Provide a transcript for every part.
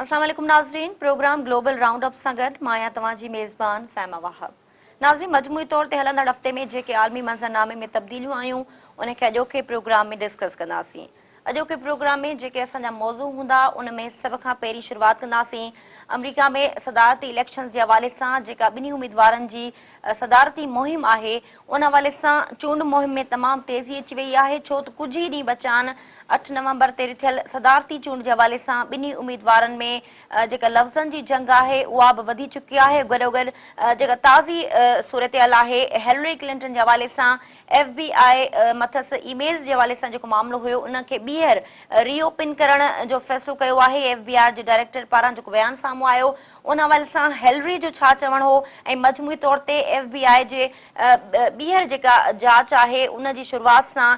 اسلام عليڪم ناظرين پروگرام گلوبل رائونڊ اپ سان گڏ مان آهيان توهان جي ميزبان سائما واهب ناظرين مجموعي طور تي هلندڙ هفتي ۾ جيڪي عالمي منظرنامي ۾ تبديليون آيون ان کي اڄوڪي پروگرام ۾ ڊسڪس ڪنداسين اڄوڪي پروگرام ۾ جيڪي اسان جا موضوع هوندا ان ۾ سڀ کان پهرين شروعات ڪنداسين آمريڪا ۾ صدارتي اليڪشنز جي حوالي سان جيڪا ٻنهي اميدوارن جي صدارتي مهم آهي ان حوالي سان چونڊ مهم ۾ تمام تيزي اچي وئي آهي ڇو ته ڪجهه ئي ڏينهن بچا آهن اٺ نومبر تي رٿيل صدارتي چونڊ جي حوالي سان ٻنهي اميدوارن ۾ جيڪا لفظن جي جنگ آهي اها به وڌي چڪي آهي گڏوگڏ جيڪا تازي صورتحال آهي هيلري ڪلنٽن جي حوالي سان ايف بي آء مٿس اي ميلز جي حوالي سان جيڪو معاملو هيو ان کي ٻيهر ري اوپن ڪرڻ جو فيصلو ڪيو آهي، ايف بي آر جي ڊائريڪٽر پاران جيڪو بيان سامهون آيو ان حوالي سان هيلري جو ڇا چوڻ هو ۽ مجموعي طور تي ايف بي آء جي ٻيهر جيڪا جاچ آهي ان جي شروعات سان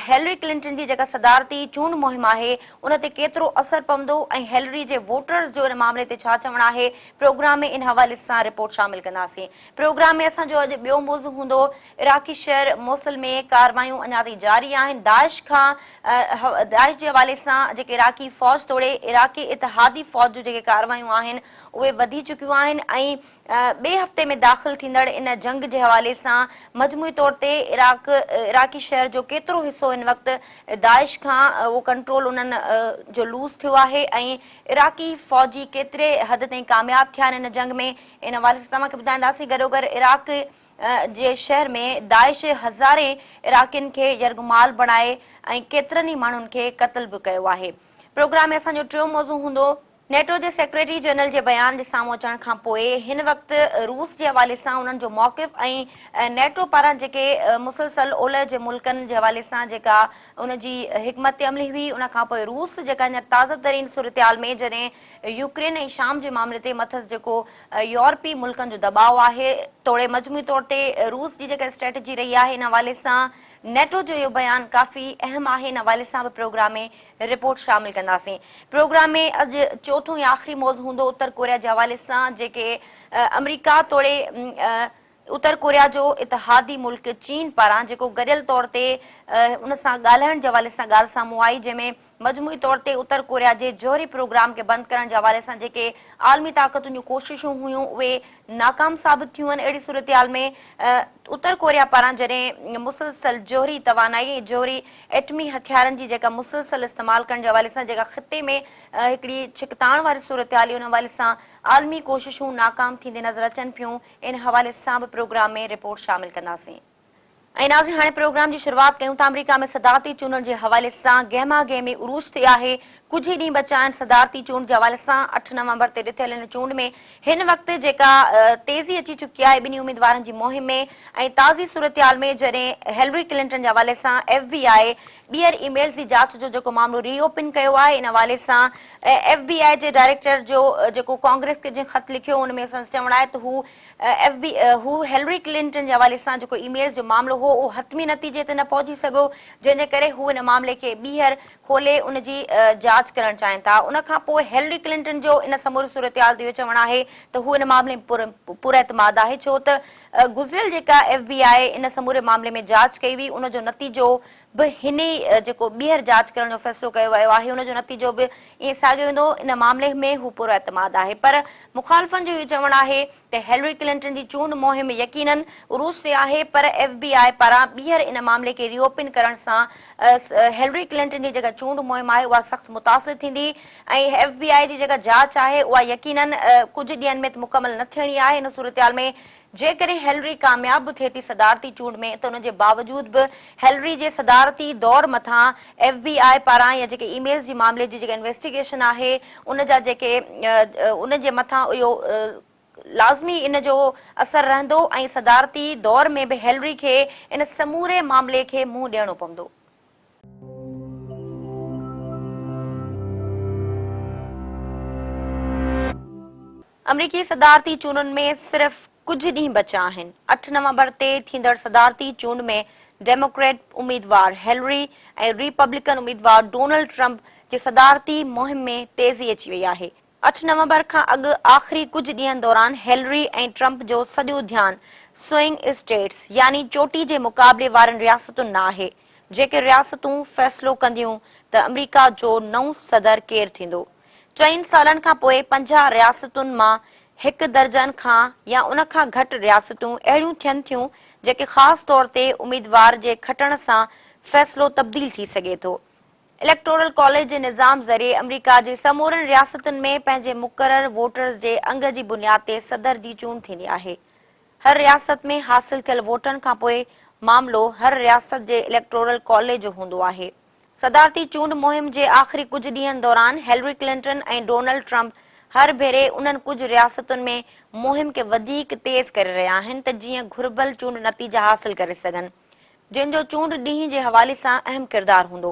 هيلري ڪلنٽن جي جيڪا صدارتي چونڊ مهم آهي ان تي ڪيترو اثر پوندو ۽ هيلري جي ووٽرز جو ان معاملي تي ڇا چوڻ آهي پروگرام ۾ ان حوالي سان رپورٽ شامل ڪنداسين پروگرام ۾ اسان جو اڄ ٻيو موضوع هوندو عراقي شهر موصل ۾ ڪارروايون اڃا تائين جاري آهن، داعش کان داعش جي حوالي سان جيڪي عراقي فوج توڙي عراقي اتحادي فوج جون جيڪي ڪارروايون آهن اهي وڌي چڪيون آهن ۽ ٻئي هفتي ۾ داخل ٿيندڙ ان جنگ جي حوالي سان مجموعي طور تي عراق عراقي شهر جو ڪيترو حصو هن وقت داعش کان اهو ڪنٽرول انهن جو لوز ٿيو آهي ۽ عراقي فوجي ڪيتري حد تائين ڪامياب ٿيا آهن ان جنگ ۾ ان حوالي سان توهان کي ٻڌائينداسين گڏوگڏ عراق جي شهر ۾ داعش هزارين عراقين کي يرغمال بڻائي ۽ ڪيترن ئي ماڻهن کي قتل به ڪيو آهي. پروگرام ۾ اسان جو ٽيون موضوع هوندو. نيٽو جي سيڪريٽري جنرل جي بيان جي سامهون اچڻ کان پوء هن وقت روس جي حوالي سان انهن جو موقف ۽ نيٽو پاران جيڪي مسلسل اولهه جي ملڪن جي حوالي سان جيڪا ان جي حڪمت عملي هئي ان کان پوء روس جيڪا هينئر تازه ترين صورتحال ۾ جڏهن يوڪرين ۽ شام جي معاملي تي مٿس جيڪو يورپي ملڪن جو دٻاء آهي توڙي مجموعي طور تي روس جي جيڪا اسٽريٽجي رهي آهي ان حوالي سان نيٽو جو اهو بيان ڪافي اهم آهي ان حوالي سان به پروگرام ۾ رپورٽ شامل ڪنداسين پروگرام ۾ اڄ چوٿون يا آخري موضوع هوندو اتر ڪوريا جي حوالي سان جيڪي آمريڪا توڙي اتر ڪوريا جو اتحادي ملڪ چين پاران جيڪو گڏيل طور تي ان سان ڳالهائڻ جي حوالي سان ڳالهه سامهون آئي جنهن ۾ مجموعي طور تي اتر ڪوريا جي جوهري پروگرام کي بند ڪرڻ جي حوالي سان جيڪي عالمي طاقتن جون ڪوششون هيون اهي ناڪام ثابت ٿيون آهن اهڙي صورتحال ۾ اتر ڪوريا پاران جڏهن مسلسل جوهري توانائي ۽ جوهري ايٽمي هٿيارن جي جيڪا مسلسل استعمال ڪرڻ جي حوالي سان جيڪا خطي ۾ هڪڙي ڇڪتاڻ واري صورتحال ان حوالي سان عالمي ڪوششون ناڪام ٿيندي نظر اچن پيون ان حوالي سان به پروگرام ۾ رپورٽ شامل ڪنداسين. ۽ ناظرين هاڻي پروگرام جي شروعات ڪيون ٿا آمريڪا ۾ صدارتي چونڊن جي حوالي سان گهمه گهمي عروج تي آهي ڪجهه ئي ڏينهن بچا آهن صدارتي چونڊ جي حوالي سان اٺ نومبر تي رٿيل ان چونڊ ۾ هن وقت جيڪا تيزي اچي چڪي آهي ٻنهي اميدوارن جي مهم ۾ ۽ تازي صورتحال ۾ جڏهن هيلري ڪلنٽن جي حوالي سان ايف بي آء ٻيهر اي ميلز جي جاچ جو جيڪو معاملو ري اوپن ڪيو آهي ان حوالي سان ايف بي آء جي ڊائريڪٽر جو جيڪو ڪانگريس کي جنهن خط لکيو ان ۾ سندس چوڻ آهي ته هو ايف بي هو هيلري ڪلنٽن جي حوالي سان جيڪو اي ميلز جو معاملو هو اهو حتمي نتيجي تي نه پهچي سگهيو جنهن جي ڪري هو ان معاملي کي ٻيهر کولي ان جي جاچ ڪرڻ چاهين ٿا ان کان پوء هيلري ڪلنٽن جو ان سموري صورتحال تي اهو چوڻ آهي ته هو ان معاملي ۾ پر پر اعتماد آهي ڇو ته گذريل جيڪا ايف بي آء ان سموري معاملي ۾ جاچ ڪئي هئي ان جو نتيجو به هن ئي جيڪو ٻيهر جاچ ڪرڻ جو فيصلو ڪيو ويو آهي ان جو نتيجو به ائين ساڳيو ايندو ان معاملي ۾ هو پر اعتماد آهي پر مخالفن جو اهو چوڻ آهي ته هيلري ڪلنٽن جي چونڊ مهم يقينن عروج تي آهي پر ايف بي آء پاران ٻيهر ان معاملي کي ري اوپن ڪرڻ سان هيلري ڪلنٽن جي جيڪا چونڊ مهم آهي اها سخت متاثر ٿيندي ۽ ايف بي آء جي جيڪا جاچ آهي اها يقينن ڪجهه ڏينهن ۾ ته مڪمل نه ٿيڻي آهي، ان صورتحال ۾ جيڪڏهن هيلري ڪامياب به ٿئي ٿي صدارتي چونڊ ۾ ته ان جي باوجود به هيلري جي صدارتي دور مٿان ايف بي آء پاران يا جيڪي اي ميلز جي معاملي جي جيڪا انويسٽيگيشن آهي ان جا جيڪي ان جي مٿان اهو لازمي ان جو اثر رهندو ۽ صدارتي دور ۾ به هيلري کي ان سموري معاملي کي منهن ڏيڻو پوندو. آمريڪي صدارتي چونڊن ۾ صرف ڪجهه ڏينهن بچيا آهن، اٺ نومبر تي ٿيندڙ صدارتي چونڊ ۾ ڊيموڪريٽ اميدوار هيلري ۽ ريپبلڪن اميدوار ڊونلڊ ٽرمپ جي صدارتي مهم ۾ تيزي اچي وئي آهي، اٺ نومبر کان اڳ آخري ڪجهه ڏينهن دوران هيلري ۽ ٽرمپ جو سڄو ڌيان سوئنگ اسٽيٽس يعني چوٽي جي مقابلي وارين رياستن ۾ آهي، جيڪي رياستون فيصلو ڪنديون ته آمريڪا جو نئون صدر ڪير ٿيندو. چئن سالن کان پوء پنجاهه رياستن مان هڪ درجن کان يا ان کان گهٽ رياستون اهڙيون ٿين ٿيون جيڪي خاص طور تي اميدوار جي کٽڻ سان فيصلو تبديل ٿي سگهي ٿو. اليڪٽورل ڪاليج جي نظام ذريعي آمريڪا جي سمورين رياستن ۾ پنهنجي مقرر ووٽرز جي انگ جي بنياد تي صدر جي چونڊ ٿيندي آهي. هر رياست ۾ حاصل ٿيل ووٽن کان پوء معاملو هر رياست جي اليڪٽورل ڪاليج جو هوندو آهي. صدارتي چونڊ مهم جي آخري ڪجهه ڏينهن دوران هيلري ڪلنٽن ۽ ڊونلڊ ٽرمپ هر ڀيري انهن ڪجهه رياستن ۾ مهم کي وڌيڪ تيز ڪري رهيا آهن ته جيئن گهربل چونڊ نتيجا حاصل ڪري سگهن. جن جو چونڊ ڏينهن جي حوالي سان اهم ڪردار هوندو.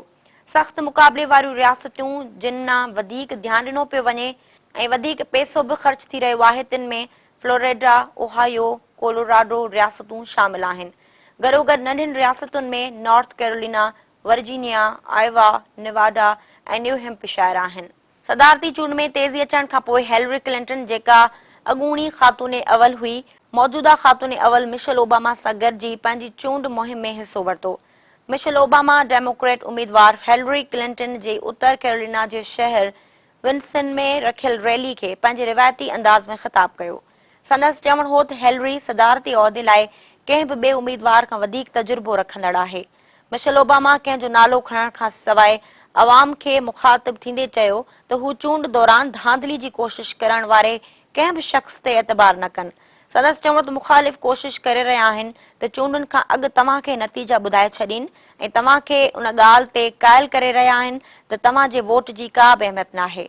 سخت مقابلي واريون رياستيون جن ڏانهن وڌيڪ ڌيان ڏنو پيو وڃي ۽ وڌيڪ پئسو به خرچ ٿي رهيو آهي تن ۾ فلوريڊا، اوهايو، ڪولوراڊو رياستون شامل آهن. گڏوگڏ ننڍين رياستن ۾ North Carolina, Virginia, Iowa, Nevada ۽ New Hampshire آهن. صدارتي چونڊ ۾ تيزي اچڻ کانپوء هيلري ڪلنٽن جيڪا اڳوڻي خاتون اول هئي، موجوده خاتون اول مشل اوباما سان گڏجي پنهنجي چونڊ مهم ۾ حصو ورتو. مشل اوباما ڊيموڪريٽ اميدوار هيلري ڪلنٽن جي اتر ڪيرولينا جي شهر ونسن ۾ رکيل ريلي کي پنهنجي روايتي انداز ۾ خطاب ڪيو. سندس چوڻ هو ته هيلري صدارتي عهدي لاء ڪنهن به ٻئي اميدوار کان وڌيڪ تجربو رکندڙ آهي. مشل اوباما ڪنهن جو نالو کڻڻ کان سواء عوام کي مخاطب ٿيندي چيو ته هو چونڊ دوران ڌانڌلي جي ڪوشش ڪرڻ واري ڪنهن به شخص تي اعتبار نه ڪن. سندس چوڻ ته مخالف ڪوشش ڪري رهيا آهن ته چونڊن کان اڳ توهان کي نتيجا ٻڌائي ڇڏين ۽ توهان کي ان ڳالهه تي قائل ڪري رهيا آهن ته توهان جي ووٽ جي ڪا به اهميت ناهي.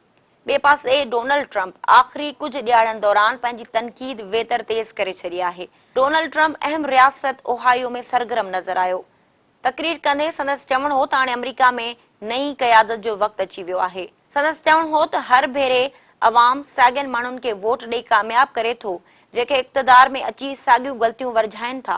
ٻئي پاسي ڊونلڊ ٽرمپ آخري ڪجهه ڏهاڙن دوران پنهنجي تنقيد ويتر تيز ڪري ڇڏي آهي. ڊونلڊ ٽرمپ اهم رياست اوهائيو ۾ سرگرم نظر آيو. تقرير ڪندي سندس چوڻ هو ته هاڻي آمريڪا ۾ نئين قيادت جو وقت اچي ويو آهي. سندس چوڻ هو ته هر ڀيري عوام ساڳين ماڻهن کي ووٽ ڏئي ڪامياب ڪري ٿو، جيڪي اقتدار ۾ اچي ساڳيون غلطيون ورجائين ٿا.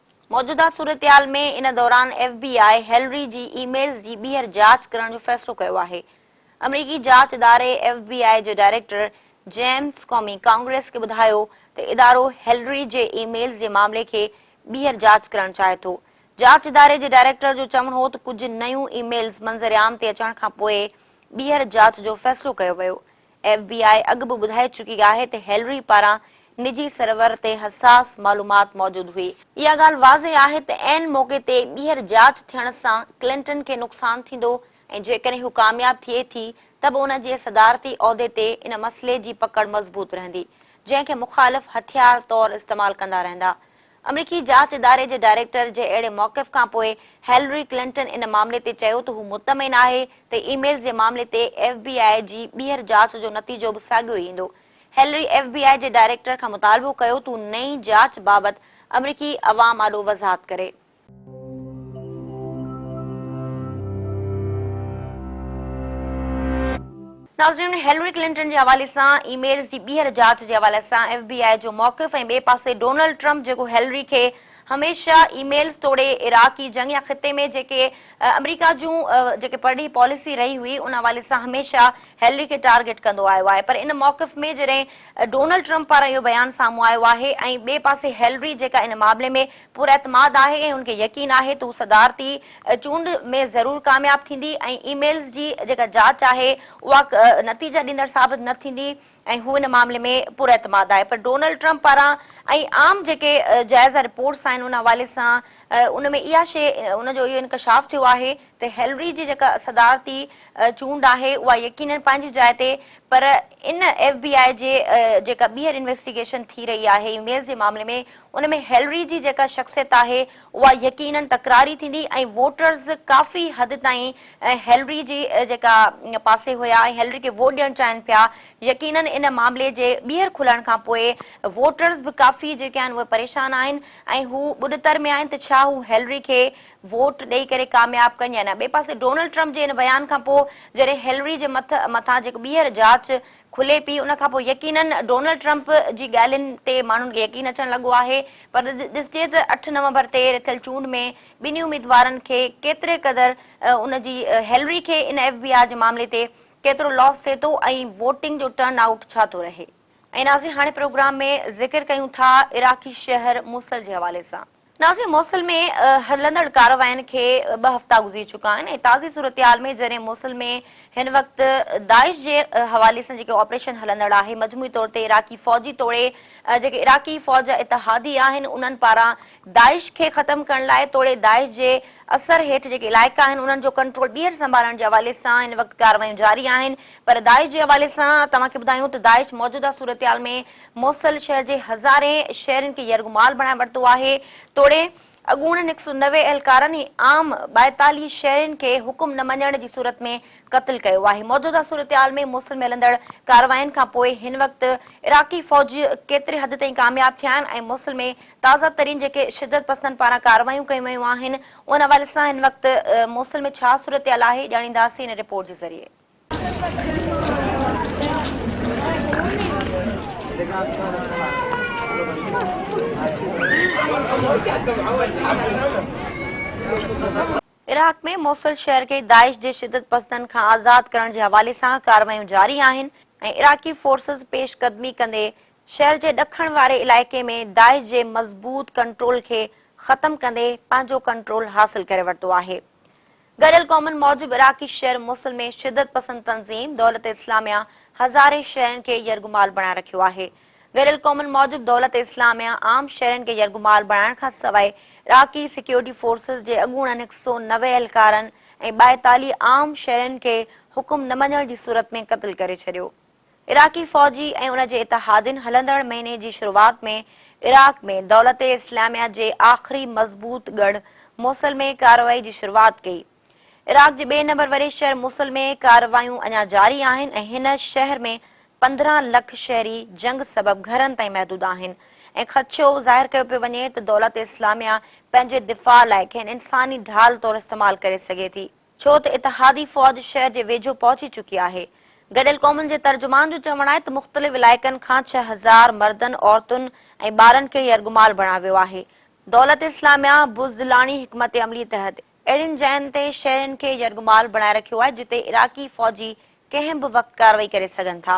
موجوده صورتحال ۾ ان دوران ايف بي آء هيلري جي اي ميلز جي ٻيهر جاچ ڪرڻ جو فيصلو ڪيو آهي. آمريڪي جاچ اداري ايف بي آء جي ڊائريڪٽر جيمز ڪومي ڪانگريس کي ٻڌايو ته ادارو هيلري جي اي ميلز جي معاملي کي ٻيهر جاچ ڪرڻ چاهي ٿو. جاچ اداري جي ڊائريڪٽر جو چوڻ هو ته ڪجهه نيون اي ميلز منظر عام تي اچڻ کانپوء ٻيهر جاچ جو فيصلو ڪيو ويو. ايف بي آء اڳ به ٻڌائي چڪي آهي ته هيلري پاران نجي سرور تي حساس معلومات موجود هئي. اها ڳالهه واضح آهي ته عين موقعي تي ٻيهر جاچ ٿيڻ سان ڪلنٽن کي نقصان ٿيندو ۽ جيڪڏهن هو ڪامياب ٿئي ٿي ته به ان جي صدارتي عهدي تي ان مسئلي جي پڪڙ مضبوط رهندي جنهن کي مخالف هٿيار طور استعمال ڪندا رهندا امريڪي جاچ اداري جي ڊائريڪٽر جي اهڙي موقف کانپوء هيلري ڪلنٽن ان معاملي تي چيو ته هو مطمئن آهي ته اي ميلز جي معاملي تي ايف بي آء جي ٻيهر جاچ جو نتيجو به ساڳيو ئي ايندو. هيلري ايف بي آء جي ڊائريڪٽر کان مطالبو ڪيو ته هو نئين جاچ بابت امريڪي عوام آڏو وضاحت ڪري. ناظرين هيلري ڪلنٽن جي حوالي سان اي ميلز جي ٻيهر جاچ جي حوالي سان ايف بي آء جو موقف ۽ ٻئي پاسي ڊونلڊ ٽرمپ جيڪو هيلري کي هميشه اي ميلز توڙي عراقي جنگ يا خطي ۾ جيڪي آمريڪا جون جيڪي پرڏيهي پاليسي رهي هئي ان حوالي سان هميشه هيلري کي ٽارگيٽ ڪندو آيو آهي پر ان موقف ۾ جڏهن ڊونلڊ ٽرمپ پاران اهو بيان سامهون آيو آهي ۽ ٻئي پاسي هيلري جيڪا ان معاملي ۾ پر اعتماد آهي ۽ هن کي يقين آهي ته هو صدارتي چونڊ ۾ ضرور ڪامياب ٿيندي ۽ اي ميلز جي جيڪا جاچ آهي اها نتيجا ڏيندڙ ثابت نه ٿيندي ۽ هو ان معاملي ۾ پر اعتماد آهي پر ڊونلڊ ٽرمپ پاران ۽ عام جيڪي جائزه رپورٽس آهن ان حوالي سان ان ۾ اها شيء ان جو اهو انڪشاف ٿيو آهي ته هيلري جي جيڪا صدارتي چونڊ آهي اها يقينن پنهنجي جاء تي پر ان ايف بي آء جي جيڪا ٻيهر انويسٽيگيشن ٿي رهي آهي اي ميلز جي معاملي ۾ ان ۾ هيلري جي جيڪا شخصيت آهي اها يقينن تڪراري ٿيندي ۽ ووٽرز ڪافي حد تائين هيلري جي جيڪا پاسي هيا ۽ هيلري کي ووٽ ڏيڻ چاهين پيا يقينن ان معاملي جي ٻيهر کلڻ کان پوء ووٽرز به ڪافي جيڪي آهن اهي پريشان آهن ۽ هو ٻڏتر ۾ آهن ته ڇا هو هيلري کي ووٽ ڏئي ڪري ڪامياب ڪن يا نه ٻئي پاسي ڊونلڊ ٽرمپ جي ان بيان کان پوء جڏهن هيلري جي مٿان جيڪو ٻيهر جاچ کلي پئي ان کانپوء يقيناً ڊونلڊ ٽرمپ جي ڳالهين تي ماڻهن کي يقين اچڻ لڳو آهي پر ڏسجي ته اٺ نومبر تي رٿيل چونڊ ۾ ٻنهي اميدوارن کي ڪيتري قدر ان جي هيلري کي ان ايف بي آر جي معاملي تي ڪيترو لاس ٿئي ٿو ۽ ووٽنگ جو ٽرن آئوٽ ڇا ٿو رهي. ۽ ناظرين هاڻي پروگرام ۾ ذڪر ڪيون ٿا عراقي شهر موصل جي حوالي سان. ناظرين موصل ۾ هلندڙ ڪاررواين کي ٻه هفتا گذري چڪا آهن ۽ تازي صورتحال ۾ جڏهن موصل ۾ هن وقت داعش جي حوالي سان جيڪي آپريشن هلندڙ آهي مجموعي طور تي عراقي فوجي توڙي جيڪي عراقي فوج جا اتحادي آهن انهن پاران داعش کي ختم ڪرڻ لاء توڙي داعش جي اثر هيٺ جيڪي علائقا آهن انهن جو ڪنٽرول ٻيهر سنڀالڻ جي حوالي سان هن وقت ڪارروايون جاري آهن پر داعش جي حوالي سان توهان کي ٻڌايون ته داعش موجوده صورتحال ۾ موصل شهر جي هزارين شهرين کي يرغمال بڻائي ورتو آهي، توڙي اڳوڻن هڪ سؤ نوي اهلڪارن ۽ عام ٻائيتاليهه شهرين کي حڪم نه مڃڻ جي صورت ۾ قتل ڪيو آهي. موجوده صورتحال ۾ موصل ۾ هلندڙ ڪاررواين کان پوء هن وقت عراقي فوج ڪيتري حد تائين ڪامياب ٿيا آهن ۽ موصل ۾ تازه ترين جيڪي شدت پسندن پاران ڪارروايون ڪيون ويون آهن ان حوالي سان هن وقت موصل ۾ ڇا صورتحال آهي ڄاڻينداسين ان رپورٽ جي ذريعي. عراق ۾ موصل شهر کي داعش جي شدت پسندن کان آزاد ڪرڻ جي حوالي سان ڪارروايون جاري آهن ۽ عراقي فورسز پيش قدمي ڪندي شهر جي ڏکڻ واري علائقي ۾ داعش جي مضبوط ڪنٽرول کي ختم ڪندي پنهنجو ڪنٽرول حاصل ڪري ورتو آهي. گڏيل قومن موجب عراقي شهر موصل ۾ شدت پسند تنظيم دولت اسلاميه هزارين شهرين کي يرغمال بڻائي رکيو آهي. گڏيل قومن موجب دولت اسلاميه عام شهرين کي يرغمال بڻائڻ کان سواء عراقي سيڪيورٽي فورسز جي اڳوڻن هڪ سؤ نوي اهلڪارن ۽ ٻائيتاليهه عام شهرين کي حڪم نه مڃڻ جي صورت ۾ قتل ڪري ڇڏيو. عراقي فوجي ۽ ان جي اتحادين هلندڙ مهيني جي شروعات ۾ عراق ۾ دولت اسلاميه جي آخري مضبوط ڳڙهه موصل ۾ ڪارروائي جي شروعات ڪئي. عراق جي ٻئي نمبر واري شهر موصل ۾ ڪارروايون اڃا جاري آهن ۽ هن شهر ۾ پندرهن لک شهري جنگ سبب گهرن تائين محدود آهن ۽ خدشو ظاهر ڪيو پيو وڃي ته دولت اسلاميه پنهنجي دفاع لاء کين انساني ڍال طور استعمال ڪري سگهي ٿي. ڇو ته اتحادي فوج شهر جي ويجهو پهچي چڪي آهي. گڏيل قومن جي ترجمان جو چوڻ آهي ته مختلف علائقن کان ڇهه هزار مردن، عورتن ۽ ٻارن کي يرغمال بڻايو ويو آهي. دولت اسلاميه بزدلاڻي حڪمت عملي تحت اهڙين جاين تي شهرين کي يرغمال بڻائي رکيو آهي جتي عراقي فوجي ڪنهن به وقت ڪارروائي ڪري سگهن ٿا.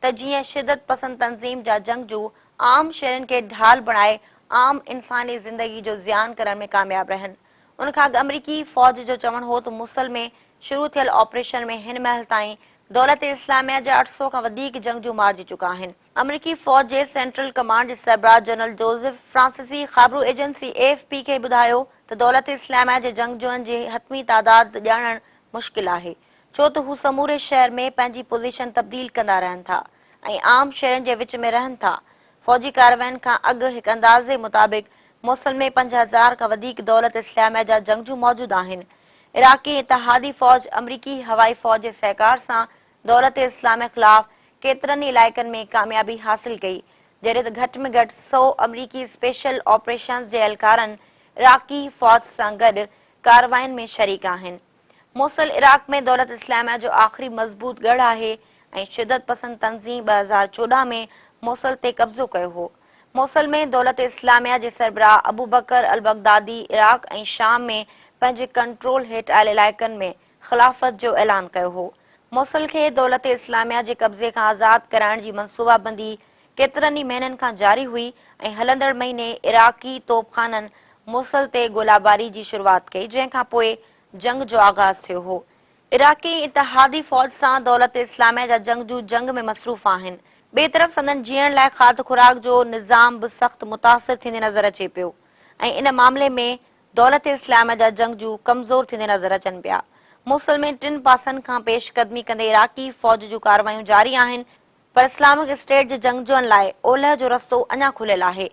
ته جيئن شدت پسند تنظيم جا جنگجو عام شھرين کي ڍال بڻائي عام انساني زندگي جو زيان ڪرڻ ۾ ڪامياب رھن. ان کان اڳ آمريڪي فوج جو چوڻ ھو ته موصل ۾ شروع ٿيل آپريشن ۾ ھن مھل تائين دولت اسلاميه جا اٺ سؤ کان وڌيڪ جنگجو مارجي چڪا آھن. آمريڪي فوج جي سينٽرل ڪمانڊ جي سربراھ جنرل جوزف فرانسيسي خابرو ايجنسي اي ايف پي کي ٻڌايو ته دولت اسلاميه جي جنگجوئن جي حتمي تعداد ڄاڻڻ مشڪل آھي ڇو ته هو سموري شهر ۾ پنهنجي پوزيشن تبديل ڪندا رهن ٿا ۽ عام شهرين جي وچ ۾ رهن ٿا. فوجي ڪاررواين کان اڳ هڪ اندازي مطابق موصل ۾ پنج هزار کان وڌيڪ دولت اسلاميه جا جنگجو موجود آهن. عراقي اتحادي فوج آمريڪي هوائي فوج جي سهڪار سان دولت اسلاميه خلاف ڪيترن ئي علائقن ۾ ڪاميابي حاصل ڪئي جڏهن ته گهٽ ۾ گهٽ سؤ آمريڪي اسپيشل آپريشنز جي اهلڪارن عراقي فوج سان گڏ ڪاررواين ۾ شريڪ آهن. موصل عراق ۾ دولت اسلاميه جو آخري مضبوط ڳڙهه آهي ۽ شدت پسند تنظيم ٻه هزار چوڏهن ۾ موصل تي قبضو ڪيو هو. موصل ۾ دولت اسلاميه جي سربراهه ابوبڪر البغدادي عراق ۽ شام ۾ پنهنجي ڪنٽرول هيٺ آيل علائقن ۾ خلافت جو اعلان ڪيو هو. موصل کي دولت اسلاميه جي قبضي کان آزاد ڪرائڻ جي منصوبابندي ڪيترن ئي مهينن کان جاري هئي ۽ هلندڙ مهيني عراقي توبخانن موصل تي گولاباري جي شروعات ڪئي جنهن کان پوء جنگ جو آغاز ٿيو هو. عراقي اتحادي فوج سان دولت اسلاميه جا جنگجو جنگ ۾ مصروف آهن. ٻئي طرف سندن جيئڻ لاء کاڌ خوراڪ جو نظام به سخت متاثر ٿيندي نظر اچي پيو ۽ ان معاملي ۾ دولت اسلاميه جا جنگجو ڪمزور ٿيندي نظر اچن پيا. موصل ۾ ٽن پاسن کان پيش قدمي ڪندي عراقي فوج جون ڪاروايون جاري آهن. پر اسلامڪ اسٽيٽ جي جنگجوئن لاء اولهه جو رستو اڃا کليل آهي،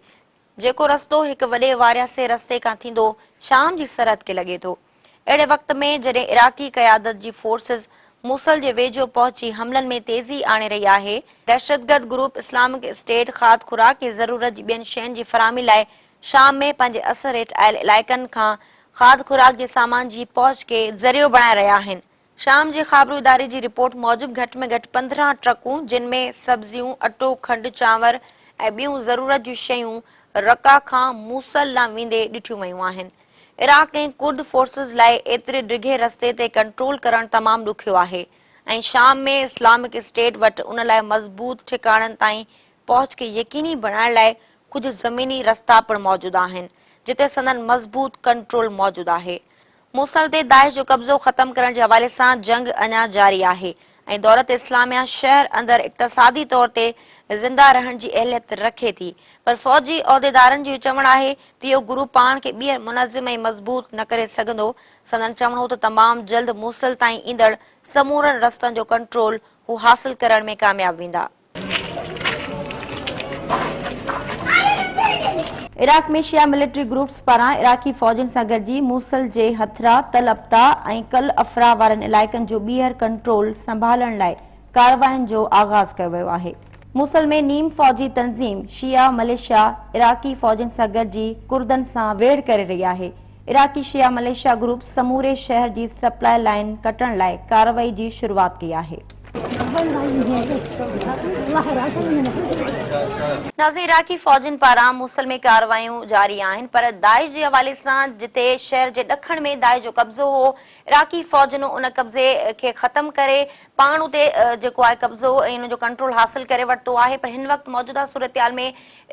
جيڪو رستو هڪ وڏي وارياسي رستي کان ٿيندو شام جي سرحد کي لڳي ٿو. اهڙي وقت ۾ جڏهن عراقي قيادت جي فورسز موصل جي ويجهو پهچي حملن ۾ تيزي آڻي رهي آهي، دهشتگرد گروپ اسلامڪ اسٽيٽ کاڌ خوراڪ ۽ ضرورت جي ٻين شين جي فراهمي لاء شام ۾ پنهنجي اثر هيٺ آيل علائقن کان کاڌ خوراڪ جي سامان جي پهچ کي ذريعو بڻائي رهيا آهن، شام جي خابرو اداري جي رپورٽ موجب گهٽ ۾ گهٽ پندرهن ٽرڪون جن ۾ سبزيون، اٽو، کنڊ، چانور ۽ ٻيون ضرورت جون شيون رقه کان موصل ڏانهن ويندي ڏٺيون ويون آهن. عراق ۽ ڪرد فورسز لاء ايتري ڊگهي رستي تي ڪنٽرول ڪرڻ تمام ڏکيو آهي ۽ شام ۾ اسلامڪ اسٽيٽ وٽ ان لاء مضبوط ٺڪاڻن تائين پهچ کي يقيني بڻائڻ لاء ڪجهه زميني رستا پڻ موجود آهن جتي سندن مضبوط ڪنٽرول موجود آهي. موصل تي داعش جو قبضو ختم ڪرڻ جي حوالي سان جنگ اڃا جاري آهي ۽ دولت اسلاميه شهر اندر اقتصادي طور تي زنده رهڻ جي اهليت رکي ٿي پر فوجي عهديدارن جو چوڻ آهي ته اهو گروپ پاڻ کي ٻيهر منظم ۽ مضبوط نه ڪري سگهندو سندن چوڻ هو ته تمام جلد موصل تائين ايندڙ سمورن رستن جو ڪنٽرول هو حاصل ڪرڻ ۾ ڪامياب ويندا. عراق ۾ شيعا ملٽري گروپس پاران عراقي فوجن سان گڏجي موصل جي هٿرا، تل ابتع ۽ ڪل افرا وارن علائقن جو ٻيهر ڪنٽرول سنڀالڻ لاء ڪاررواين جو آغاز ڪيو ويو آهي. موصل ۾ نيم فوجي تنظيم شيعا مليشيا عراقي فوجن سان گڏجي ڪردن سان ويڙهه ڪري رهي آهي. عراقي شيعا مليشيا گروپ سموري شهر جي سپلاء لائين ڪٽڻ لاء ڪارروائي جي شروعات ڪئي آهي. نازي عراقي فوجين پاران موصل ۾ ڪارروايون جاري آهن پر داعش جي حوالي سان جتي شهر جي ڏکڻ ۾ داعش جو قبضو هو عراقي فوجن ان قبضي کي ختم ڪري پاڻ اتي جيڪو آهي قبضو ۽ ان جو ڪنٽرول حاصل ڪري ورتو آهي پر هن وقت موجوده صورتحال ۾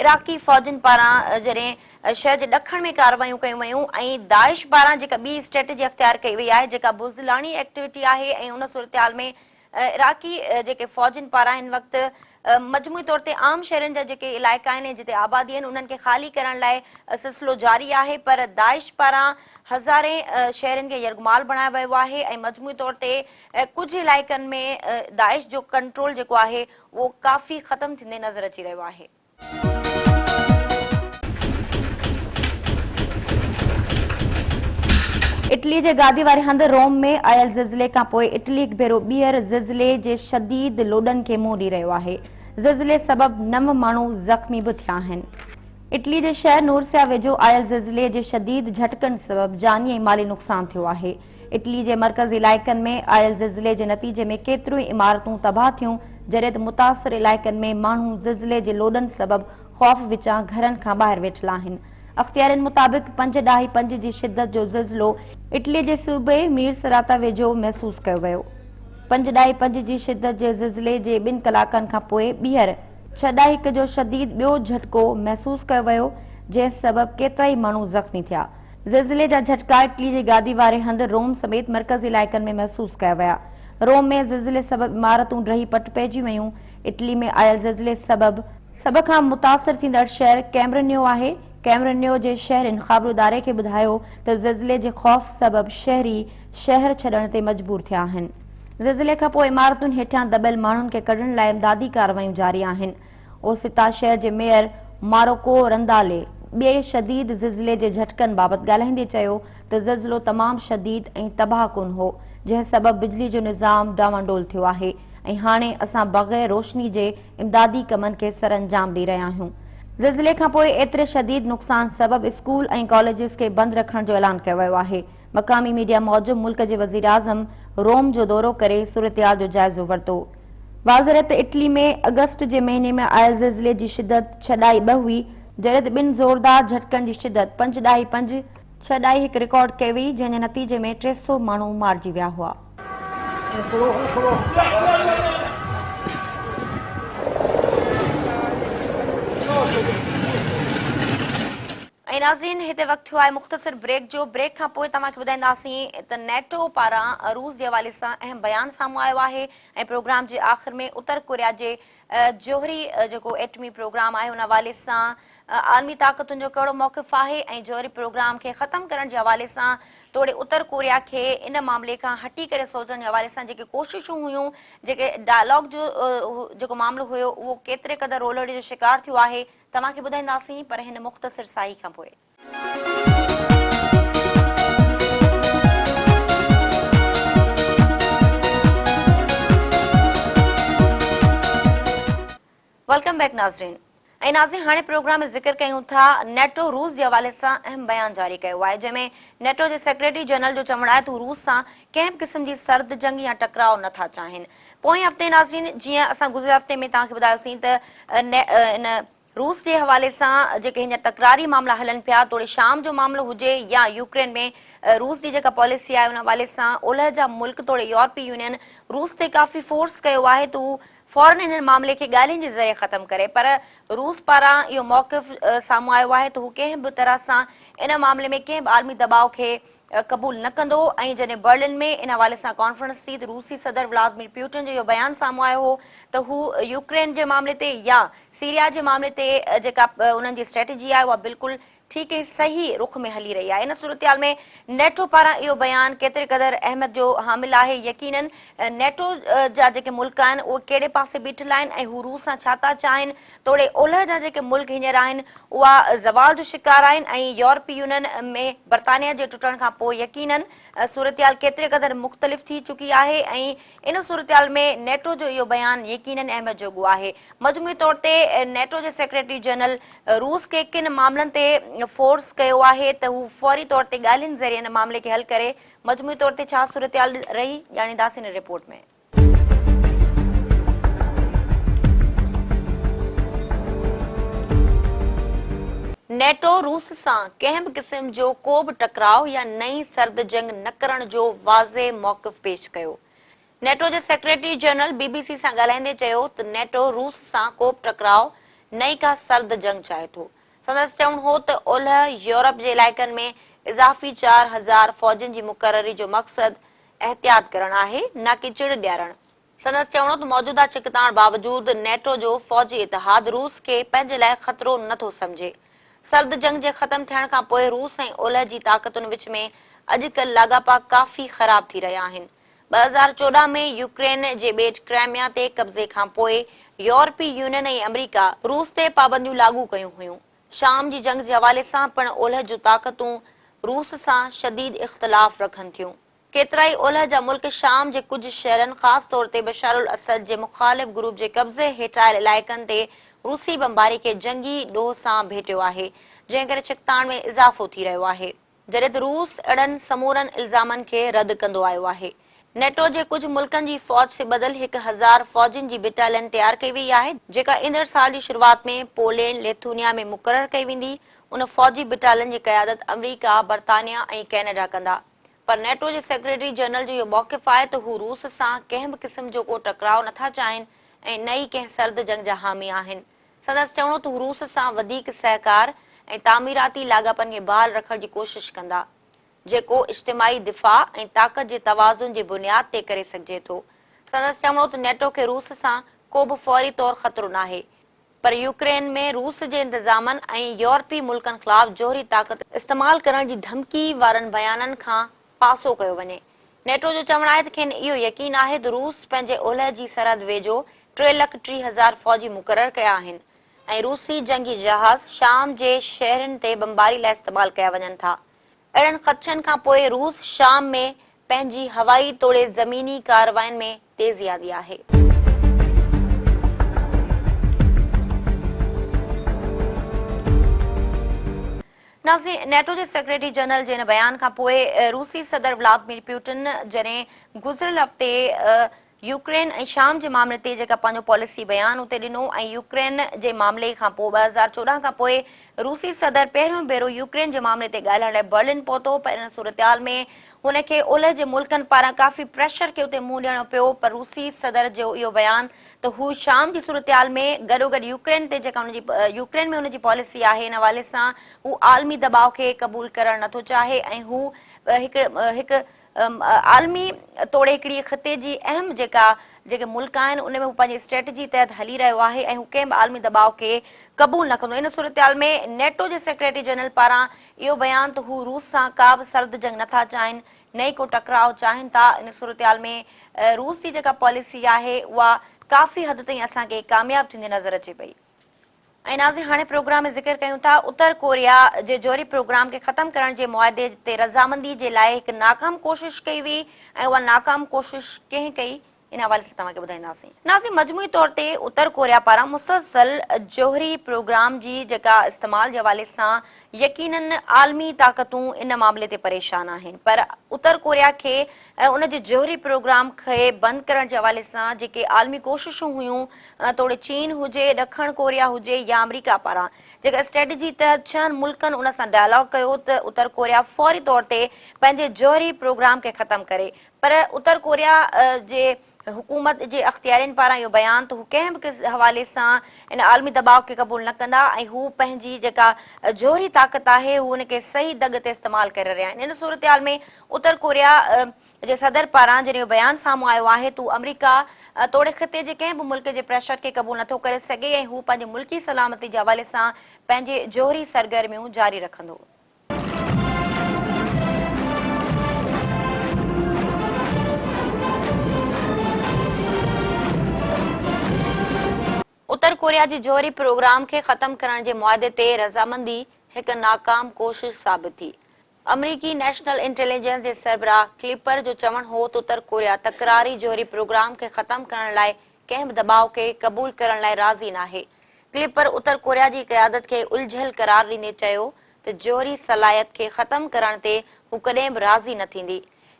عراقي فوجين پاران جڏهن شهر جي ڏکڻ ۾ ڪارروايون ڪيون ويون ۽ داعش پاران جيڪا ٻي اسٽريٽجي اختيار ڪئي وئي آهي جيڪا بزدلاڻي ايڪٽويٽي آهي ۽ ان صورتحال ۾ عراقي جيڪي فوجين پاران هن وقت مجموعي طور تي عام شهرين جا جيڪي علائقا آهن ۽ جتي آبادي آهن انهن کي خالي ڪرڻ لاء سلسلو جاري آهي پر داعش پاران هزارين شهرين کي يرغمال بڻايو ويو آهي ۽ مجموعي طور تي ڪجهه علائقن ۾ داعش جو ڪنٽرول جيڪو آهي اهو ڪافي ختم ٿيندي نظر اچي رهيو آهي. اٽلي جي گادي واري هنڌ روم ۾ آيل زلزلي کانپوء اٽلي هڪ ڀيرو ٻيهر زلزلي جي شديد لوڏن کي منهن ڏئي رهيو آهي. زلزلي سبب نو ماڻهو زخمي به ٿيا آهن. اٽلي جي شهر نورسيا ويجهو آيل زلزلي جي شديد جهٽڪن سبب جاني ۽ مالي نقصان ٿيو آهي. اٽلي جي مرڪزي علائقن ۾ آيل زلزلي جي نتيجي ۾ ڪيتريون ئي عمارتون تباهه ٿيون، جڏهن ته متاثر علائقن ۾ ماڻهو زلزلي جي لوڏن سبب خوف وچان گهرن کان ٻاهر ويٺل آهن. اختيارين مطابق پنج ڏهائي پنج جي شدت جو زلزلو اٽلي جي صوبي مير سراتا ويجهو محسوس ڪيو ويو. پنج ڏهائي پنج جي شدت جي زلزلي جي ٻن ڪلاڪن کان پوء ٻيهر ڇهه ڏهائي هڪ جو شديد ٻيو جهٽڪو محسوس ڪيو ويو، جنهن سبب ڪيترائي ماڻهو زخمي ٿيا. زلزلي جا جهٽڪا اٽلي جي گادي واري هنڌ، روم سميت مرڪزي علائقن ۾ محسوس ڪيا ويا. روم ۾ زلزلي سبب عمارتون ڊهي پٽ پئجي ويون. اٽلي ۾ آيل زلزلي سبب. سڀ کان متاثر ٿيندڙ شهر ڪيمرنيو آهي. ڪيمرنيو جي شهرين خابراداري کي ٻڌايو ته زلزلي جي خوف سبب شهري شهر ڇڏڻ تي مجبور ٿيا آهن. زلزلي کانپوء عمارتن هيٺيان دٻيل ماڻهن کي ڪڍڻ لاء امدادي ڪارروائيون جاري آهن. اوستا شهر جي ميئر ماروڪو رندالي ٻئي شديد زلزلي جي جهٽڪن بابت ڳالهائيندي چيو ته زلزلو تمام شديد ۽ تباهه ڪن هو جنهن سبب بجلي جو نظام ڊانواڊول ٿيو آهي ۽ هاڻي اسان بغير روشني جي امدادي ڪمن کي سرانجام ڏئي رهيا آهيون. زلزلي کانپوء ايتري شديد نقصان سبب اسڪول ۽ ڪاليجز کي بند رکڻ جو اعلان ڪيو ويو آهي. مقامي ميڊيا موجب ملڪ جي وزيراعظم روم جو دورو ڪري صورتحال جو جائزو ورتو. واضح رهي ته اٽلي ۾ اگسٽ جي مهيني ۾ آيل زلزلي جي شدت ڇهه ڏهائي ٻه هئي، جڏهن ته ٻن زوردار جهٽڪن جي شدت پنج ڏهائي پنج، ڇهه ڏهائي هڪ رڪارڊ ڪئي وئي، جنهن جي نتيجي ۾ ٽي سؤ ماڻهو مارجي ويا هئا. ۽ ناظرين هتي وقت ٿيو آهي مختصر بريڪ جو بريڪ کان پوء توهان کي ٻڌائينداسين ته نيٽو پاران روس جي حوالي سان اهم بيان سامهون آيو آهي ۽ پروگرام جي آخر ۾ اتر ڪوريا جي جوهري جيڪو ايٽمي پروگرام آهي ان حوالي سان عالمي طاقتن جو ڪهڙو موقف آهي ۽ جوهري پروگرام کي ختم ڪرڻ جي حوالي سان توڙي اتر ڪوريا کي ان معاملي کان هٽي ڪري سوچڻ جي حوالي سان جيڪي ڪوششون هيون جيڪي ڊائلاگ جو جيڪو معاملو هيو اهو ڪيتري قدر رولهڙي جو شڪار ٿيو آهي توهان کي ٻڌائينداسين پر هن مختصر ساهي کان پوء. ويلڪم بيڪ ناظرين ۽ ناظرين هاڻي پروگرام ۾ ذڪر ڪيون ٿا نيٽو روس جي حوالي سان اهم بيان جاري ڪيو آهي جنهن ۾ نيٽو جي سيڪريٽري جنرل جو چوڻ آهي ته هو روس سان ڪنهن به قسم جي سرد جنگ يا ٽڪراء نه ٿا چاهين پوئين هفتي ناظرين جيئن اسان گذريل هفتي ۾ توهان کي ٻڌايوسين ته ان روس جي حوالي سان جيڪي هينئر تڪراري معاملا هلن پيا توڙي شام جو معاملو هجي يا يوڪرين ۾ روس جي جيڪا پاليسي آهي ان حوالي سان اولهه جا ملڪ توڙي يورپي يونين روس تي ڪافي فورس ڪيو آهي ته هو فورن انهن معاملي کي ڳالهين جي ذريعي ختم ڪري پر روس پاران اهو موقف سامهون آيو آهي ته هو ڪنهن به طرح سان ان معاملي ۾ ڪنهن به عالمي دٻاء کي قبول نه ڪندو ۽ جڏهن برلن ۾ ان حوالي سان ڪانفرنس ٿي ته روسي صدر ولادمير پيوٽن جو اهو بيان سامهون آيو هو ته هو يوڪرين جي معاملي تي يا سيريا جي معاملي تي جيڪا انهن جي اسٽريٽجي آهي اها بلڪل ٺيڪ ۽ صحيح رخ ۾ هلي رهي آهي ان صورتحال ۾ نيٽو پاران اهو بيان ڪيتري قدر اهميت جو حامل آهي يقينا نيٽو جا جيڪي ملڪ آهن اهي ڪهڙي پاسي بيٺل آهن ۽ هو روس سان ڇا ٿا چاهين توڙي اولهه جا جيڪي ملڪ هينئر آهن، اها زوال جو شڪار آهن ۽ يورپي يونين ۾ برطانيه جي ٽٽڻ کان پوء يقينن صورتحال ڪيتري قدر مختلف ٿي چڪي آهي ۽ ان صورتحال ۾ نيٽو جو اهو بيان يقينن اهميت جوڳو آهي. مجموعي طور تي نيٽو جي سيڪريٽري جنرل روس کي ڪن معاملن تي فورس ڪيو آهي ته هو فوري طور تي ڳالهين ذريعي ان معاملي کي حل ڪري، مجموعي طور تي ڇا صورتحال رهي، ڄاڻينداسين ان رپورٽ ۾. نيٽو روس سان ڪنهن به قسم جو ڪو به ٽڪراء يا نئين سرد جنگ نه ڪرڻ جو واضح موقف پيش ڪيو. نيٽو جي secretary general B B C سان ڳالهائيندي چيو ته نيٽو روس سان ڪو به ٽڪراء نه ئي ڪا سرد جنگ چاهي ٿو. سندس چوڻ هو ته اولهه يورپ جي علائقن ۾ اضافي چار هزار فوجين جي مقرري جو مقصد احتياط ڪرڻ آهي نه ڪي چڙ ڏيارڻ. سندس چوڻ هو ته موجوده ڇڪتاڻ باوجود نيٽو جو فوجي اتحاد روس کي پنهنجي لاء خطرو نه ٿو سمجهي. سرد جنگ جي ختم ٿيڻ کان پوء روس ۽ اولهه جي طاقتن وچ ۾ اڄ ڪلهه لاڳاپا ڪافي خراب ٿي رهيا آهن. ٻه هزار چوڏهن ۾ يوڪرين جي ٻيٽ ڪرائميا تي قبضي کان پوء يورپي يونين ۽ آمريڪا روس تي پابنديون لاڳو ڪيون هيون. شام جي جنگ جي حوالي سان پڻ اولهه جون طاقتون روس سان شديد اختلاف رکن ٿيون. ڪيترائي اولهه جا ملڪ شام جي ڪجهه شهرن خاص طور تي بشارالاسد جي مخالف گروپ جي قبضي هيٺ آيل علائقن تي روسي بمباري کي جنگي ڏوهه سان ڀيٽيو آهي، جنهن ڪري ڇڪتاڻ ۾ اضافو ٿي رهيو آهي. جڏهن ته روس اهڙن سمورن الزامن کي رد ڪندو آيو آهي. نيٽو جي ڪجهه ملڪن جي فوج سي ٻڌل هڪ هزار فوجين جي بٽالين تيار ڪئي ويئي آهي، جيڪا ايندڙ سال جي شروعات ۾ پولينڊ، ليٿونيا ۾ مقرر ڪئي ويندي، ان فوجي بٽالين جي قيادت آمريڪا، برطانيا ۽ ڪينيڊا ڪندا. پر نيٽو جي سيڪريٽري جنرل جو اهو موقف آهي ته هو روس سان ڪنهن به قسم جو ڪو ٽڪراء نٿا چاهين ۽ نه ئي ڪنهن سرد جنگ جا حامي آهن. سندس چوڻ هو ته هو روس سان وڌيڪ سهڪار ۽ تعميراتي لاڳاپن کي بحال رکڻ جي ڪوشش ڪندا، جيڪو اجتماعي دفاع ۽ طاقت جي توازن جي بنياد تي ڪري سگهجي ٿو. سندس چوڻ هو ته نيٽو کي روس سان ڪوبه فوري طور خطرو ناهي، پر يوڪرين ۾ روس جي انتظامن ۽ يورپي ملڪن خلاف جوهري طاقت استعمال ڪرڻ جي ڌمڪي وارن بيانن کان پاسو ڪيو وڃي. نيٽو جو چوڻ آهي ته کين اهو يقين آهي ته روس پنهنجي اولهه جي سرحد ويجهو ٽي لک ٽيهه هزار فوجي مقرر ڪيا آهن ۽ روسي جنگي جهاز شام جي شهرن تي بمباري لاء استعمال ڪيا وڃن ٿا. اهڙن خدشن کان پوء روس شام ۾ پنهنجي هوائي توڙي زميني ڪاررواين ۾ تيزي آندي آهي. نازي نيٽو جي سيڪريٽري جنرل جي ان بيان کان پوء روسي صدر ولادمير پيوٽن جڏهن گذريل هفتي يوڪرين ۽ شام جي معاملي تي جيڪا پنهنجو پاليسي بيان اتي ڏنو ۽ يوڪرين جي معاملي کان پوء ٻه هزار چوڏهن کان پوء روسي صدر پهريون ڀيرو يوڪرين جي معاملي تي ڳالهائڻ لاء برلن پهتو پر ان صورتحال ۾ هن کي اولهه جي ملڪن پاران ڪافي پريشر کي اتي منهن ڏيڻو پيو پر روسي صدر جو اهو بيان ته هو شام جي صورتحال ۾ گڏوگڏ يوڪرين تي جيڪا ان جي يوڪرين ۾ ان جي پاليسي آهي ان حوالي سان هو عالمي دٻاء کي قبول ڪرڻ نه ٿو چاهي ۽ هو هڪ هڪ عالمي توڙي هڪڙي خطي جي اهم جيڪا جيڪي ملڪ آهن ان ۾ هو پنهنجي اسٽريٽجي تحت هلي رهيو آهي ۽ هو ڪنهن به عالمي دٻاء کي قبول نه ڪندو ان صورتحال ۾ نيٽو جي سيڪريٽري جنرل پاران اهو بيان ته هو روس سان ڪا به سرد جنگ نه ٿا چاهين نه ڪو ٽڪراء چاهين ٿا، ان صورتحال ۾ روس جي جيڪا پاليسي آهي اها ڪافي حد تائين اسان کي ڪامياب ٿيندي نظر اچي پئي. ۽ ناظرين هاڻي پروگرام ۾ ذڪر ڪيون ٿا اتر ڪوريا جي جوهري پروگرام کي ختم ڪرڻ جي معاهدي تي رضامندي جي لاء هڪ ناڪام ڪوشش ڪئي وئي ۽ اها ناڪام ڪوشش ڪنهن ڪئي ان حوالي سان توهان کي ٻڌائينداسين ناظرين مجموعي طور تي اتر ڪوريا پاران مسلسل جوهري پروگرام جي جيڪا استعمال جي حوالي سان يقيناً عالمي طاقتون ان معاملي تي پريشان آهن پر اتر ڪوريا کي ۽ ان جي جوهري پروگرام کي بند ڪرڻ جي حوالي سان جيڪي عالمي ڪوششون هيون توڙي چين هجي ڏکڻ ڪوريا هجي يا آمريڪا پاران جيڪا اسٽريٽجي تحت ڇهن ملڪن ان سان ڊائلاگ ڪيو ته اتر ڪوريا فوري طور تي پنهنجي جوهري پروگرام کي ختم ڪري پر اتر ڪوريا جي حڪومت جي اختيارين پاران اهو بيان ته هو ڪنهن به حوالي سان ان عالمي دٻاء کي قبول نه ڪندا ۽ هو پنهنجي جيڪا جوهري طاقت آهي هو ان کي صحيح دڳ تي استعمال ڪري رهيا آهن ان صورتحال ۾ اتر ڪوريا جي صدر پاران جڏهن اهو بيان سامهون آيو آهي ته هو آمريڪا توڙي خطي جي ڪنهن به ملڪ جي پريشر کي قبول نٿو ڪري سگهي ۽ هو پنهنجي ملڪي سلامتي جي حوالي سان پنهنجي جوهري سرگرميون جاري رکندو. اتر ڪوريا جي جوهري پروگرام کي ختم ڪرڻ جي معاهدي تي رضامندي هڪ ناڪام ڪوشش ثابت ٿي. آمريڪي نيشنل انٽيليجنس جي سربراهه ڪليپر جو چوڻ هو ته اتر ڪوريا تڪراري جوهري پروگرام کي ختم ڪرڻ لاء ڪنهن به دٻاء کي قبول ڪرڻ لاء راضي ناهي. ڪلپر اتر ڪوريا جي قيادت کي الجهيل قرار ڏيندي چيو ته جوهري صلاحيت کي ختم ڪرڻ تي هو ڪڏهن به راضي نه ٿيندي.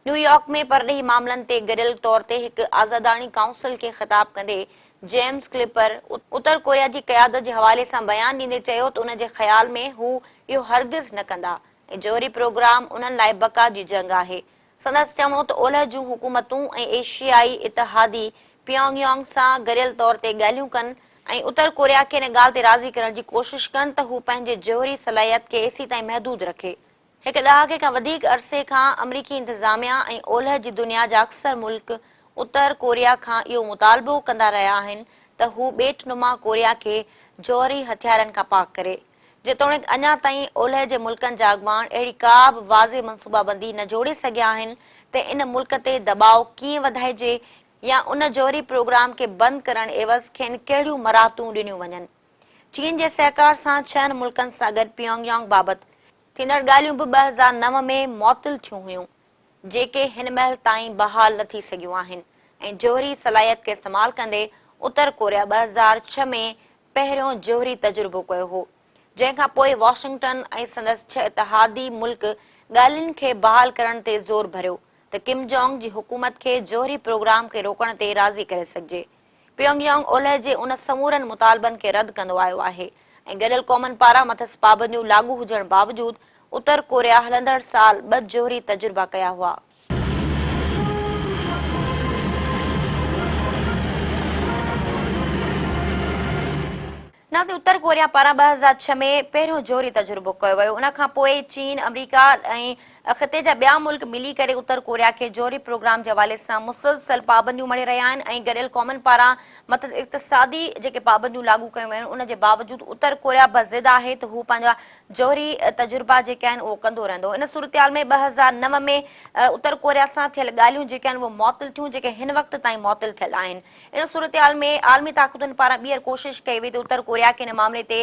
نيويارڪ ۾ پرڏيهي معاملن تي گڏيل طور تي هڪ آزاداڻي ڪائونسل کي خطاب ڪندي جيمز ڪلپر اتر ڪوريا جي قيادت جي حوالي سان بيان ڏيندي چيو ته ان جي خيال ۾ هو اهو هرگز نه ڪندا ۽ جوهري پروگرام انهن لاء بقا جي جنگ آهي سندس چوڻو ته اولهه جون حڪومتون ۽ ايشيائي اتحادي پيانگ يانگ سان گريل طور تي ڳالهيون ڪن ۽ اتر ڪوريا کي ان ڳالهه تي راضي ڪرڻ جي ڪوشش ڪن ته هو پنهنجي جوهري صلاحيت کي ايسي تائين محدود رکي. هڪ ڏهاڪي کان وڌيڪ عرصي کان آمريڪي انتظاميا ۽ اولهه جي دنيا جا اڪثر ملڪ اتر ڪوريا کان اهو مطالبو ڪندا رهيا آهن ته هو ٻيٽ نما ڪوريا کي جوهري هٿيارن کان پاڪ ڪري. جيتوڻيڪ اڃا تائين اولهه جي ملڪن جا اڳواڻ اهڙي ڪا به واضح منصوبابندي نه جوڙي سگهيا آهن ته ان ملڪ تي دٻاء ڪيئن وڌائجي يا ان جوهري پروگرام کي بند ڪرڻ عيوض کين ڪهڙيون مراعتون ڏنيون وڃن. چين جي سهڪار سان ڇهن ملڪن سان گڏ پيانگ يانگ بابت ٿيندڙ ڳالهيون به ٻه هزار نو ۾ معطل ٿيون هيون جيڪي هن مهل تائين بحال نه ٿي سگهيون آهن ۽ جوهري صلاحيت کي استعمال ڪندي اتر ڪوريا ٻه هزار ڇهه ۾ پهريون جوهري تجربو ڪيو هو، جنهن کان پوء واشنگٽن ۽ سندس ڇهه اتحادي ملڪ ڳالهين کي بحال ڪرڻ تي زور ڀريو ته ڪم جونگ جي حڪومت کي جوهري پروگرام کي روڪڻ تي راضي ڪري سگهجي. پيونگ يانگ اولهه جي ان سمورن مطالبن کي رد ڪندو آيو آهي ۽ گڏيل قومن پاران مٿس پابنديون لاڳو هجڻ باوجود اتر ڪوريا هلندڙ سال ٻه جوهري تجربا ڪيا هئا. نازي اتر ڪوريا پاران ٻه هزار ڇهه ۾ پهريون جوهري تجربو ڪيو ويو ان کان پوء چين آمريڪا ۽ خطي جا ٻيا ملڪ ملي ڪري اتر ڪوريا کي جوهري پروگرام جي حوالي سان مسلسل پابنديون مڙهي رهيا آهن ۽ گڏيل قومن پاران مٿس اقتصادي جيڪي پابنديون لاڳو ڪيون ويون آهن ان جي باوجود اتر ڪوريا به ضد آهي ته هو پنهنجا جوهري تجربا جيڪي آهن اهو ڪندو رهندو. ان صورتحال ۾ ٻه هزار نو ۾ اتر ڪوريا سان ٿيل ڳالهيون جيڪي آهن اهي معطل ٿيون جيڪي هن وقت تائين معطل ٿيل آهن. ان صورتحال ۾ عالمي طاقتن پاران ٻيهر ڪوشش ڪئي وئي ته اتر ڪوريا کي ان معاملي تي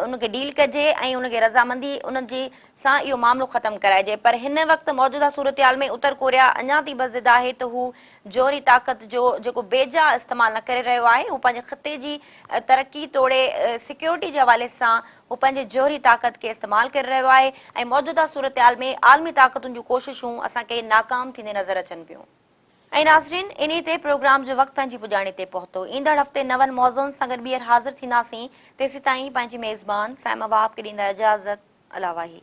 ان کي ڊيل ڪجي ۽ ان کي رضامندي ان جي سان اهو معاملو ختم ڪرائجي پر هن وقت موجوده صورتحال ۾ اتر ڪوريا اڃا تي به ضد آهي ته هو جوهري طاقت جو جيڪو بي جا استعمال نه ڪري رهيو آهي، هو پنهنجي خطي جي ترقي توڙي سيڪيورٽي جي حوالي سان هو پنهنجي جوهري طاقت کي استعمال ڪري رهيو آهي ۽ موجوده صورتحال ۾ عالمي طاقتن جون ڪوششون اسان کي ناڪام ٿيندي نظر اچن پيون. ۽ ناظرين انهي تي پروگرام جو وقت پنهنجي پڄاڻي تي پهتو. ايندڙ هفتي نون موضوعن سان گڏ ٻيهر حاضر ٿينداسين، تيسيتائين پنهنجي ميزبان صائمه وهاب کي ڏيندا اجازت الاواهي.